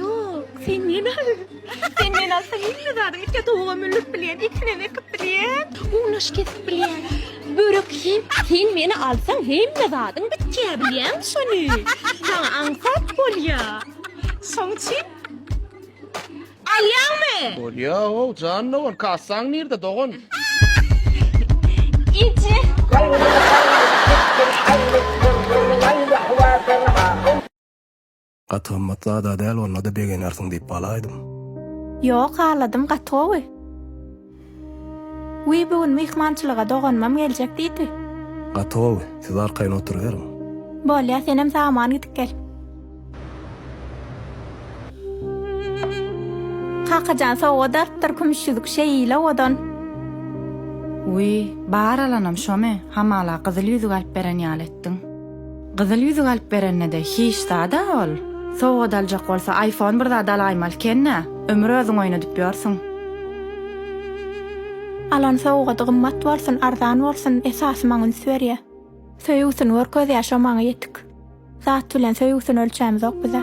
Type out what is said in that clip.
Ýok, sen meni al. Sen meni alsaň hemme zady itge towuga mündirip bilýän, ekinem ekip bilýän, gunaş kesip bilýän, börek iýip, sen meni alsaň hemme zadyň bitýär bilýäňmi şony? Saňa aňsat bolýar. Şoň üçin alýaňmy? Bolýa-ow, jandogar, kassaň nirde, dogan? Ije. Gaty gymmat zada däl onda-da begenersiň diýip galaýdym. Ýok, haladym gaty gowy. Wiý bu gün myhmançylyga doganymam geljek diýdi. Gaty gowy, siz arkaýyn oturyberiň. Bolýa, senem saman gidip gel. Kakajan sowgat alypdyr kümüş ýüzük şeýle owadan. Wiý, bar alanam şomy, hamala gyzyl ýüzük alyp beren ýaly etdiň. Gyzyl ýüzük alyp berende-de hiç zad-a ol. Sowgat aljak bolsa aýfon bir zat alaýmaly eken-ä. Ömür özüň oýnadyp ýörsüň. Alan sowgady gymmat bolsun, arzan bolsun, esasy maňa üns berýä. Söýgüsini görkezýä şo maňa ýetik. Zat bilen söýgüsini ölçämizok biz-ä.